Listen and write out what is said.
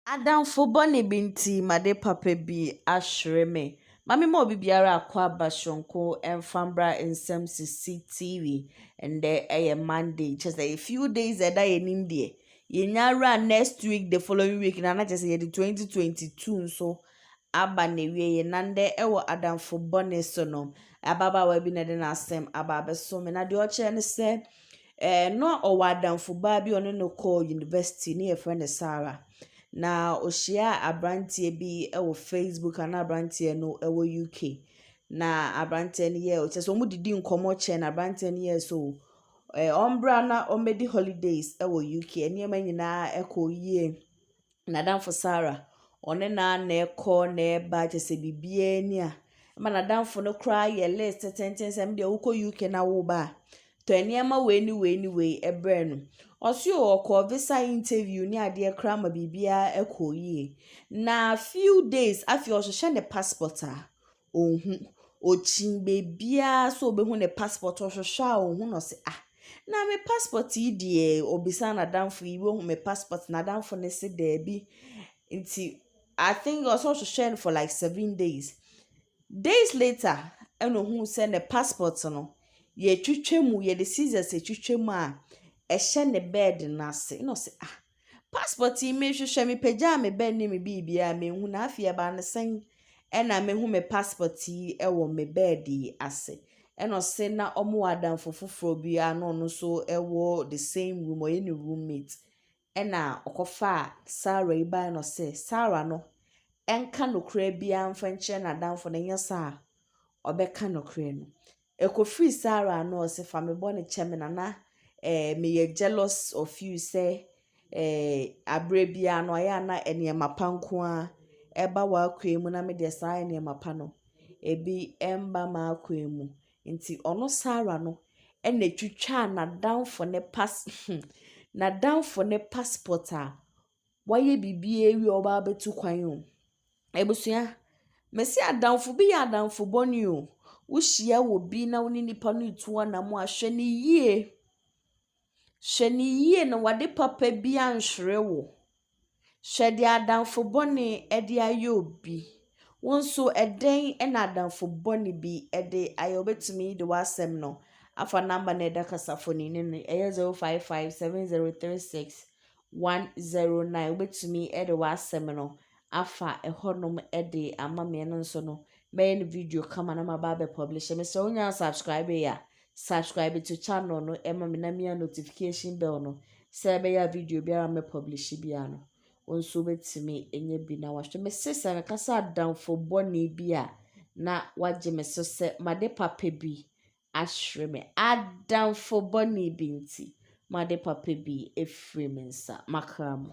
Adamfo bɔne bi nti m'ade papa bi ahwere me. Ma memma obi biara akɔ aba soronko mfa mbra nsɛm sisi TV. Ndɛ yɛ Monday, kyerɛ sɛ yɛ few days a ɛda yɛn anim deɛ, yɛnya awura next week the following week na na kyerɛ sɛ yɛde 2022 nso aba n'awieɛ. Na ndɛ wɔ adamfo bɔne so no, ababaawa bi na ɛde n'asɛm aba abɛso me. Na deɛ ɔkyerɛ ne sɛ, Ɛɛ, na ɔwɔ adamfo baa bi a ɔne no kɔɔ university, ne yɛfrɛ no Sarah. Na ohyiaa aberanteɛ bi wɔ Facebook a na aberanteɛ no wɔ UK. Na aberanteɛ no yɛɛ, kyerɛ sɛ wɔdidi nkɔmmɔ kyɛ na aberanteɛ no yɛɛ sɛ o, ɛɛ ɔmmra na ɔmmɛdi holidays wɔ UK. Nneɛma nyinaa kɔɔ yie. n'adamfo Sarah, ɔne no ara na ɛkɔ na ɛba kyerɛ sɛ biribiara ni a, ɛma n'adamfo no koraa yɛ list tenten sɛ ɛno deɛ wokɔ UK na woba a, tɔ nneɛma wei ne wei ne wei brɛ no. Ɔse o ɔkɔɔ visa interview ne adeɛ koraa ma biribiara ɛkɔɔ yie. Na few days afei ɔhyehyɛ ne passport a, ɔnhu. Ɔkyin baabiara sɛ ɔbɛhu ne passport, ɔhwehwɛ a ɔnhu na ɔse ah, na me passport yi deɛ? Ɔbisa n'adamfo yi, woahu me passport? N'adamfo no se daabi. Nti I think ɔse ɔhwehwɛɛ no for like seven days. Days later ɛna ɔhuu sɛ ne passport no, yɛtwitwa mu, yɛde scissors twitwa mu a, ɛhyɛ ne bed no ase. Ɛna ɔse ah. Passport yi merehwehwɛ, mepagyaa me bag ne me biribiara a menhu na afei ɛbaa no sɛn ɛna mehu me passport yi wɔ me bed yi ase. Ɛna ɔse na wɔn wɔ adamfo foforɔ bi a na ɔno nso wɔ the same room, ɔyɛ ne roommate. Ɛna ɔkɔfaa Sarah yi bae na ɔse Sarah no nka nokorɛ biara mfa nkyerɛ n'adamfo no, ɛnyɛ saa a ɔbɛka nokorɛ no. Ɛkɔfiri saa ara a na ɔse fa me bɔne kyɛ me na na eh, meyɛ jealous of you sɛ eh, aberɛ biara no ayɛ a na nneɛma pa nko ara ɛba w'akwan mu na me deɛ saa nneɛma pa no ebi mba m'akwan mu nti ɔno Sarah no ɛna ɛtwitwaa n'adamfo ne pas hmm, n'adamfo ne passport a Wayɛ biribiara awie a ɔba abɛtu kwan o. Abusua, mese adamfo bi yɛ adamfo bɔne o. Wohyia obi na wo ne nipa no retu anammɔn a, hwɛ no yie. Hwɛ no yie na w'ade papa bi anhwere wo. Hwɛ deɛ adamfo bɔne de ayɛ obi. Wo nso ɛdɛn na adamfo bɔne bi de ayɛ wo. Wobɛtumi de w'asɛm no afa number no a ɛda kasafoni no ano, ɛyɛ 05570360. 109 wobɛtumi de w'asɛm no afa ɛhɔnom de ama me ɛno nso no mɛyɛ no video kama na maba abɛ publish mesrɛ wo nyaa subscribe yɛ a subscribe to channel no ɛma me na mia notification bell no sɛ ɛbɛyɛ video biara mɛ publish biara no wo nso wobɛtumi ɛnyɛ bi na wahwɛ me se sɛ meka sɛ adamfo bɔne bi a na wagye me so sɛ made papa bi ahwere me adamfo bɔne bi nti, m'ade papa bi afiri me nsa, m'akra mu.